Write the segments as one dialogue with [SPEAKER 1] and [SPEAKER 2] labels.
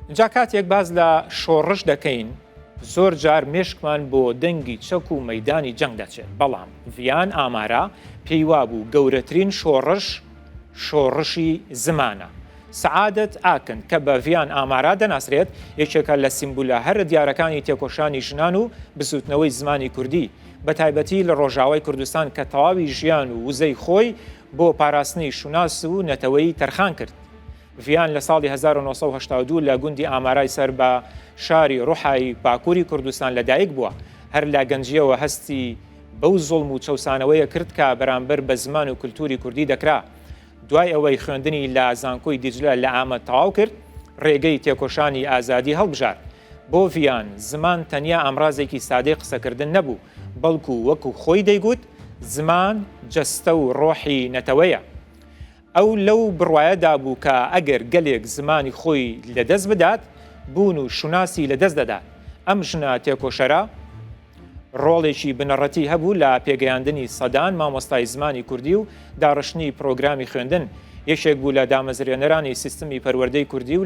[SPEAKER 1] ئینجا کاتێک باس لە شۆڕش دەکەین زۆر جار مێشکمان بۆ دەنگی چەک و مەیدانی جەنگ دەچێت، بەڵام ڤیان ئامارا پێی وابوو گەورەترین شۆڕش شۆڕشی زمانە. سەعادەت ئاکن کە بە ڤیان ئامارا دەناسرێت، یەکێکە لە سیمبولە هەرە دیارەکانی تێکۆشانی ژنان و بزووتنەوەی زمانی کوردی، بە تایبەتی لە ڕۆژاوای کوردستان کە تەواوی ژیان و وزەی خۆی بۆ پاراستنی شوناس و نەتەوەی تەرخان کرد. ڤیان لە ساڵی هەزار و نۆ سەد و هەشتا و دوو لە گوندی ئامارای سەر بە شاری ڕوحایی باکووری کوردستان لەدایک بووە، هەر لە گەنجییەوە هەستی بەو زوڵم و چەوسانەوەیە کرد کە بەرامبەر بە زمان و کولتووری کوردی دەکرا. دوای ئەوەی خوێندنی لە زانکۆی دیجلە لە ئامەد تەواو کرد، ڕێگەی تێکۆشانی ئازادی هەڵبژارد. بۆ ڤیان، زمان تەنیا ئامرازێکی سادەی قسەکردن نەبوو، بەڵکو وەکو خۆی دەیگوت، زمان جەستە و ڕۆحی نەتەوەیە. ئەو لەو بڕوایەدا بوو کە ئەگەر گەلێک زمانی خۆی لەدەست بدات، بوون و شوناسی لەدەست دەدات. ئەم ژنە تێکۆشەرە ڕۆڵێکی بنەڕەتی هەبوو لە پێگەیاندنی سەدان مامۆستای زمانی کوردی و داڕشتنی پرۆگرامی خوێندن، یەکێک بوو لە دامەزرێنەرانی سیستمی پەروەردەی کوردی و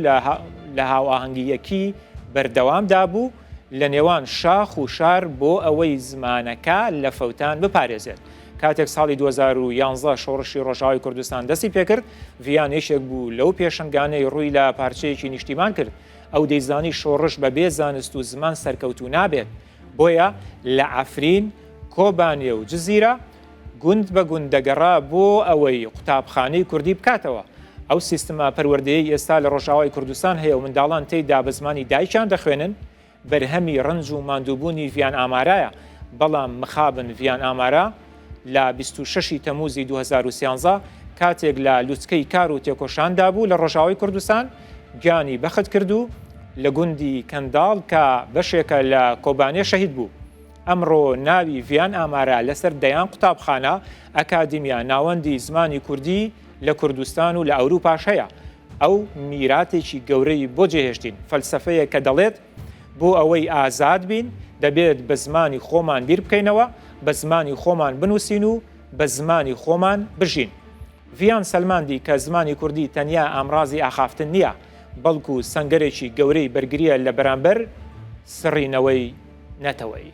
[SPEAKER 1] لە هاوئاهەنگییەکی بەردەوامدا بوو لەنێوان شاخ و شار بۆ ئەوەی زمانەکە لە فەوتان بپارێزێت. کاتێک ساڵی دوو هەزار و یازدە شۆڕشی ڕۆژاوای کوردستان دەستی پێکرد، ڤیان یەکێک بوو لەو پێشەنگانەی ڕووی لە پارچەیەکی نیشتیمان کرد، ئەو دەیزانی شۆڕش بە بێ زانست و زمان سەرکەوتوو نابێت، بۆیە لە عەفرین، کۆبانێ و جزیرە گوند بە گوند دەگەڕا بۆ ئەوەی قوتابخانەی کوردی بکاتەوە. ئەو سیستمە پەروەردەیەی ئێستا لە ڕۆژاوای کوردستان هەیە و منداڵان تێیدا بە زمانی دایکیان دەخوێنن، بەرهەمی ڕەنج و ماندووبوونی ڤیان ئامارایە، بەڵام مخابن ڤیان ئامارا لە بیست و شەش ی تەمووزی دوو هەزار و سیانزە کاتێک لە لوتکەی کار و تێکۆشاندا بوو لە ڕۆژاوای کوردستان گیانی بەخت کرد و لە گوندی کەنداڵ کە بەشێکە لە کۆبانێ شەهید بوو. ئەمڕۆ ناوی ڤیان ئامارا لەسەر دەیان قوتابخانە، ئەکادیمیا، ناوەندی زمانی کوردی لە کوردستان و لە ئەوروپاش هەیە. ئەو میراتێکی گەورەی بۆ جێهێشتین، فەلسەفەیەک کە دەڵێت، بۆ ئەوەی ئازاد بین، دەبێت بە زمانی خۆمان بیر بکەینەوە، بە زمانی خۆمان بنووسین و بە زمانی خۆمان بژین. ڤیان سەلماندی کە زمانی کوردی تەنیا ئامرازی ئاخافتن نییە، بەڵکو سەنگەرێکی گەورەی بەرگرییە لە بەرامبەر سڕینەوەی نەتەوەیی.